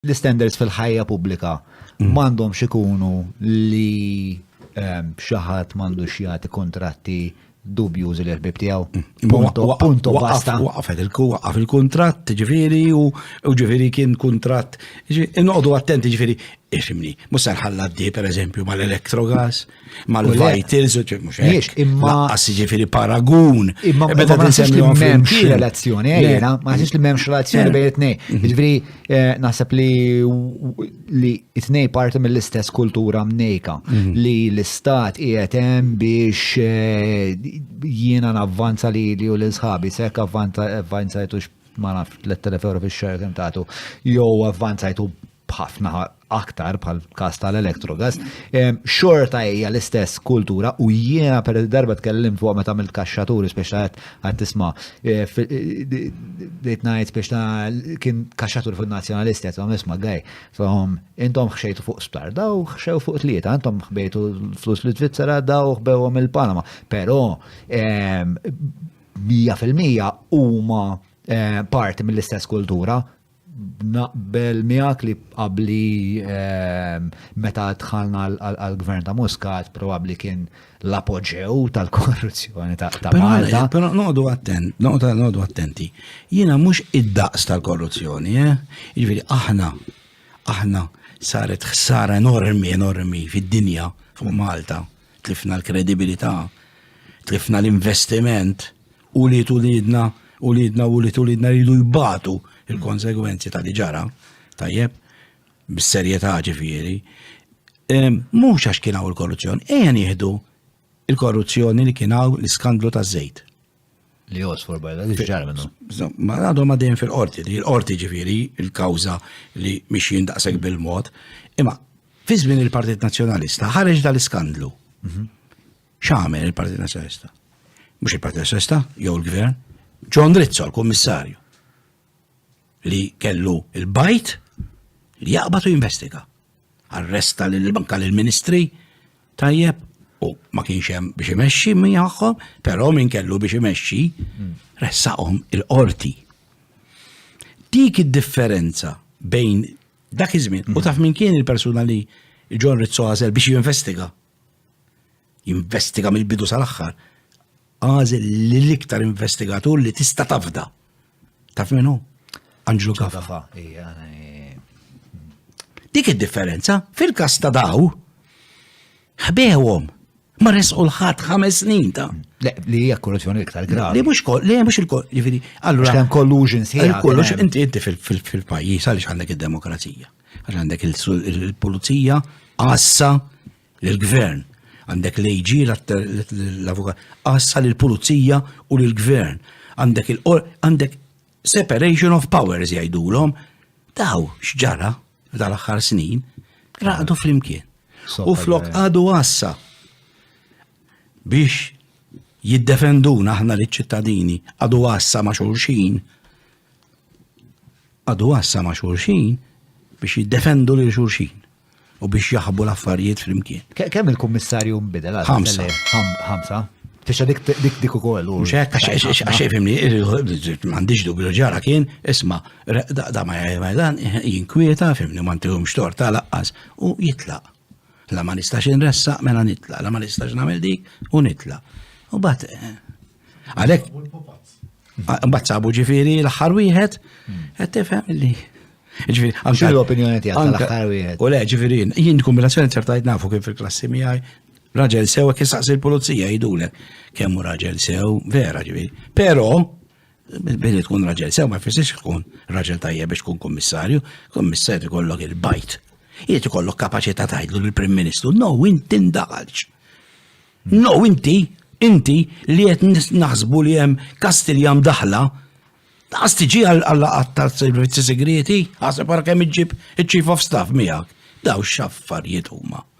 L-istandards fil-ħajja pubblika mm. m'għandhomx ikunu li ehm, xi ħadd m'għandux jagħti kontratti dubju li l-ħbib tiegħu. Mm. Punto basta. Waqaf il-kuntratt, ġifieri u ġifieri kien kuntratt. Inqogħdu attenti ġifieri isimni, mhux se nħalla d per eżempju mal-elettrogas. mal-vitals u ċek mux hekk. Imma. Laqqas ġifiri paragun. Imma meta eh, tinsem li memx relazzjoni, għajna, eh, ma nsibx li memx relazzjoni eh. bejn it-nej. Mhm. Ġifiri, naħseb li li it-nej parti mill-istess kultura mnejka mhm. li l-istat jietem biex jiena navvanza li li u l-sħabi, sekk avvanza jtux ma naf 3000 euro fil-xar kem tatu, jow avvanzajtu b'ħafna aktar bħal kas tal-Electrogas, xorta hija l-istess kultura u jiena per darba tkellim fuq meta mill kaxxatur speċta għad tisma dejt ngħid speċta kien kaxxatur fuq nazzjonalisti qed għom isma' gaj. Intom ħxejtu fuq sptar, daw ħxew fuq tlieta, intom ħbejtu flus li Svizzera daw ħbewhom il-Panama. Però 100% huma eh, parti mill-istess kultura Naqbel miegħek li qabli ehm, meta dħalna għal-gvern ta' Muscat probabbli kien l-apoġew tal-korruzzjoni ta' Malta. Però noqdu attent, noqdu attenti. Jiena mhux id-daqs tal-korruzzjoni, eh? Jiġifieri aħna aħna saret ħsara enormi enormi fid-dinja fuq Malta, tlifna l-kredibilità, tlifna l-investiment ulied uliedna, uliedna u ulied uliedna jridu jbatu il-konsegwenzi ta' li ġara, tajjeb, bis-serjetà ġifieri. Mhux għax kien hawn il-korruzzjoni, ejja nieħdu il-korruzzjoni li kien hawn l-iskandlu taż-żejt. Li josfor bajda, li ġar minnu. Ma għadhom għadin fil-qorti, li l-qorti ġifieri, il-kawża li mhix jindaqsek bil-mod, imma fi żmien il-Partit Nazzjonalista ħareġ dal-iskandlu. Mhm. X'għamel il-Partit Nazzjonalista? Mhux il-Partit Nazzjonalista jew il-Gvern, John Rizzo l-Kummissarju li kellu il-bajt li jaqbad u jinvestiga. Arresta lil banka lil ministri tajjeb u ma kienx hemm biex imexxi miegħhom, però min kellu biex imexxi hmm. ressaqhom il-qorti. Dik id-differenza bejn dak iż-żmien u taf min kien il-persuna li John Rizzo għażel biex jinvestiga. jinvestiga mill-bidu sal-aħħar, għażel li l-iktar investigatur li tista' tafda. Taf minnu? Anġlu Kafa. Dik id-differenza fil-kas ta' daw ħbewhom ma resqu l-ħadd ħames snin ta' li hija korruzzjoni iktar gravi. Li mhux li mhux il-kol, jiġifieri, allura hemm collusion sħiħ. Kollox inti inti fil-pajjiż għaliex għandek id-demokrazija. Għax għandek il-pulizija, għassa l-gvern. Għandek l-AG, l-avukat, għassa l-pulizija u l-gvern. Għandek il-qor, għandek separation of powers jgħidulhom. Daw xġara f'dal aħħar snin, raqdu flimkien. U flok għadu għassa biex jiddefenduna aħna li ċittadini għadu għassa ma' xulxin Għadu għassa ma' xulxin biex jiddefendu lil xulxin u biex jaħbu l-affarijiet flimkien. Kemm il-kummissarju nbidel għal ħamsa? Ħamsa. Fisha dik dik dik ukoll. Mhux hekk għax fimni, m'għandix dubju ġara kien, isma' da ma dan jinkwieta fimni ma ntihomx xtor ta' laqqas u jitlaq. La ma nistax inressaq mela nitla, la ma nistax nagħmel dik u nitla. U bat eh, għalek. Bat sabu ġifiri l-aħħar wieħed, hmm. qed tifhem li. Ġifiri, anke. l-opinjoni tiegħek l-aħħar wieħed. U le, ġifiri, jien kombinazzjoni ċertajt nafu kif il-klassi miegħi raġel sew kif saqsi l-pulizija jidulek kemm raġel sew vera ġifiri. Però Billi tkun raġel sew ma jfissirx tkun raġel tajjeb biex tkun kummissarju, kummissarju ikollok il-bajt. Jiet ikollok kapaċità tgħidlu lill-Prim Ministru, no inti ndaħalx. No inti, inti li qed naħsbu li hemm Kastilja mdaħla, daqs tiġi għall-laqat ta' servizzi segreti, għasab wara kemm iġġib iċ-Chief of Staff miegħek. Daw x'affarijiet huma.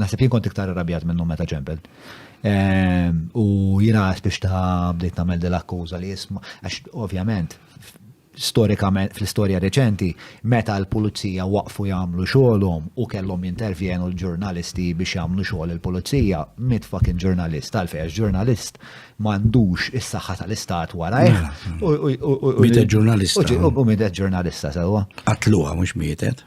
Naħseb jien kont iktar irrabjat minnu meta ġembel. Ehm, u jina biex ta' bdejt namel dil-akkuża li jisma, għax ovvjament, storikament, fl-istoria reċenti, meta l-pulizija waqfu jagħmlu xogħolhom u kellhom jintervjenu l-ġurnalisti biex jagħmlu xogħol il-pulizija, mit fucking ġurnalist, għalfej għax ġurnalist m'għandux is-saħħa tal-istat warajh. Mietet ġurnalista. U mietet ġurnalista, sewa. Qatluha mhux mietet.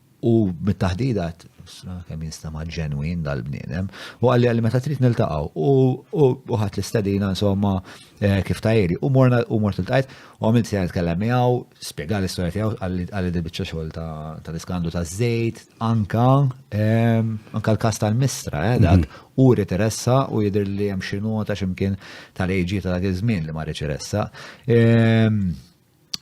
U mit-taħdida għat, kemm jinstama ġenwin dal-bniedem, u għalli għalli meta trid niltaqaw, u ħat l-istadina, insomma, eh, kif tajri, u morna u mort il-tajt, u għamil sejna nitkellem miegħu, spiega l-istorja tiegħu għalli dil-biċċa xogħol ta' l-iskandu ta' żejt, anka ehm, anka l-kas tal-mistra, eh, dak, mhm. u riteressa u jidher li hemm xi nota x'imkien tal-AG ta' dak iż-żmien li ma riteressa. Ehm,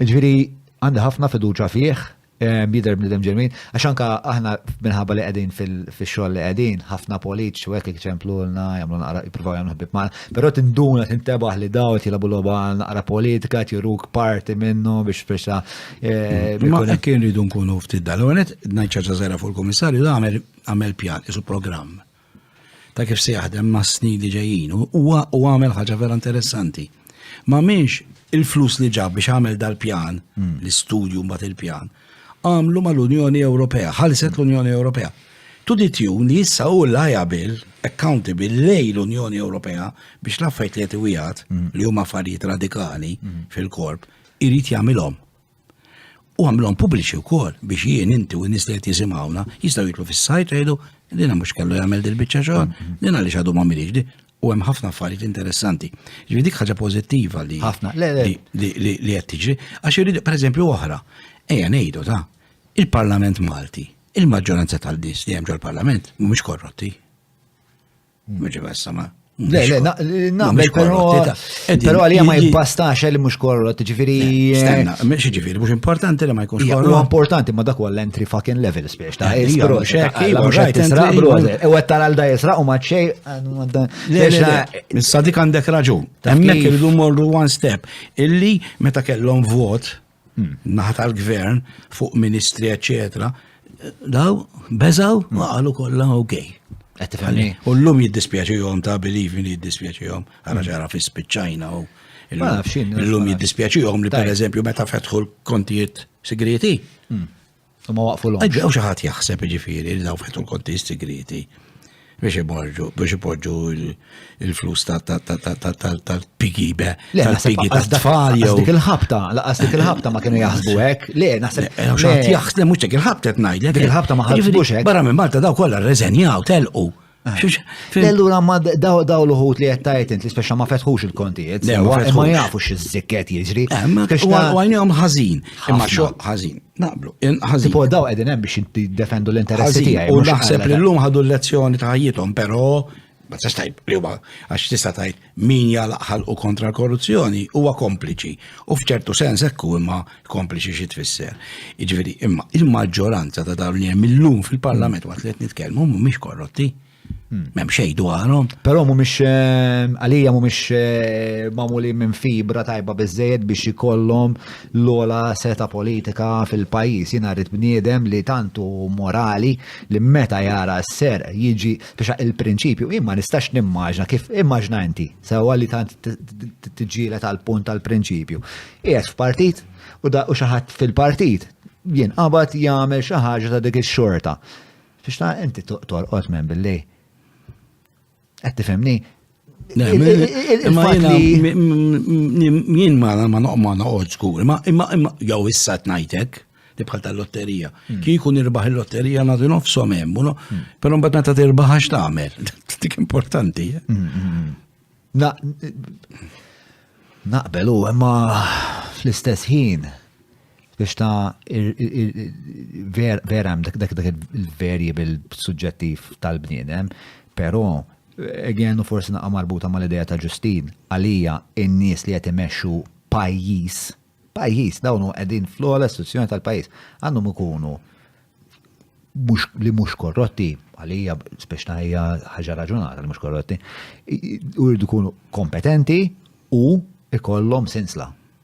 Ġifieri għandi ħafna fiduċa fih, jidher bniedem ġenwin, għax anka aħna minħabba li qegħdin fix-xogħol li qegħdin, ħafna politiċi u hekk iċemplulna, jagħmlu naqra jippruvaw jagħmlu ħbieb magħna. Però tinduna tintebaħ li daw qed jilagħbu logħba naqra politika, qed juruk parti minnu biex biex eh, Ma kien ridu nkunu ftit dal. Ngħid ċaġa żgħira fuq il-Kummissarju għamel pjan, isu programm. ta' kif se jaħdem ma' snin li ġejjin. Huwa u għamel ħaġa vera interessanti. Ma minx il-flus li ġab biex għamel dal-pjan, hmm. l-istudju mbagħad il-pjan, għamlu mal-Unjoni Ewropea, ħalset l-Unjoni Ewropea. Tu ditjun li jissa u liable, accountable lej l-Unjoni Ewropea biex l-affajt li jtiwijat mm. li huma affarijiet radikali mm. fil-korp, irrit jamilom. U għamlhom pubbliċi wkoll biex jien inti u n-nies li qed jisimgħuna jistgħu jitlu fis-sajt jgħidu li na mhux kellu jagħmel dil-biċċa xogħol, li na li xadu ma milix di. U hemm ħafna affarijiet interessanti. Ġifieri dik ħaġa pożittiva li ħafna li qed tiġri għax irid pereżempju oħra. Ejja ngħidu ta' il-Parlament Malti, il-maġġoranza tal-nies li hemm ġol-Parlament mhumiex korrotti. Mhux ibassama. Le, le, nagħmel però. Però għalija ma jibbastax li mhux korrot, ġifieri. Stenna, eh, mhux ġifieri, mhux importanti li ma jkunx korrot. Huwa importanti ma dak l entry fucking level spiex ta' isbro xek, mhux qed tisraq bro. U qed tara l jisraq u ma xej. Issa dik għandek raġun. Hemmhekk irridu morru one step. Illi meta kellhom vot, naħa tal-gvern fuq ministri eċetera, daw beżaw ma qalu kollha ok. U l-lum jiddispjaċihom ta' believe me jiddispjaċihom għara ġara fi spiċċajna u l-lum jiddispjaċihom li per eżempju meta fetħu l-kontijiet segreti. Hmm. U ma waqfu l-għom. Għaw xaħat jaħseb ġifiri li daw fettu l-konti segreti biex iborġu, biex iborġu il-flus tal-pigi be, tal-pigi tal-tfal. Dik il-ħabta, laqas dik il-ħabta ma kienu jaħsbu hekk. Le, naħseb. Xaħat jaħseb, mux dik il-ħabta t-najd. Dik il-ħabta ma ħasbux hekk. Barra minn Malta daw kollha reżenjaw, telqu. Allura ma daw daw l-uħut li jettajt int li speċa ma fetħux il-kontijiet, ma jafu x-zikket jiġri. Għajnijom ħazin, imma xo ħazin, naqblu, ħazin. Po daw għedin hemm biex jiddefendu l-interessi tiegħi. U naħseb li l-lum ħadu l-lezzjoni ta' ħajjithom, però ma tistax tajb li huwa għax tista' tajt Min jagħlaq ħalqu kontra l-korruzzjoni huwa kompliċi u f'ċertu sens hekk hu imma kompliċi xi tfisser. Jiġifieri imma il-maġġoranza ta' dawn li hemm illum fil-Parlament waqt li qed nitkellmu mhumiex korrotti. Hmm. Mem xej dwarhom. Però mhumiex eh, għalija mhumiex eh, magħmuli minn fibra tajba biżejjed biex ikollhom l-ola seta politika fil-pajjiż. Jiena rrid bniedem li tantu morali li meta jara s-ser jiġi Biex il-prinċipju, jien ma nistax nimmaġna kif immaġna inti, sewwa li tant tiġġieled għal punt tal-prinċipju. Qiegħed f'partit u da u xi ħadd fil-partit jien qabad jagħmel xi ħaġa ta' dik ix-xorta. Biex ta' inti torqod minn billi. Qed tifhimni? Jien ma ma noqma noqgħod skur, ma imma imma jew issa tnajtek li bħal tal-lotterija. Hmm. Kieku nirbaħ il-lotterija nagħti nofshom hemm, hmm. però mbagħad meta tirbaħ għax tagħmel. Dik importanti. Eh? Hmm, naqbel u imma fl-istess ħin biex ta' vera hemm dak dak il-variable suġġettiv tal-bniedem, però Again, u forsi naqgħa marbuta mal-idea ta' Ġustin, għalija n-nies li qed imexxu pajjiż, pajjiż dawn hu qegħdin fl-ogħla istituzzjoni tal-pajjiż, għandhom ikunu li mhux korrotti, għalija speċna hija ħaġa raġunata li mhux korrotti, u jridu jkunu kompetenti u ikollhom sinsla.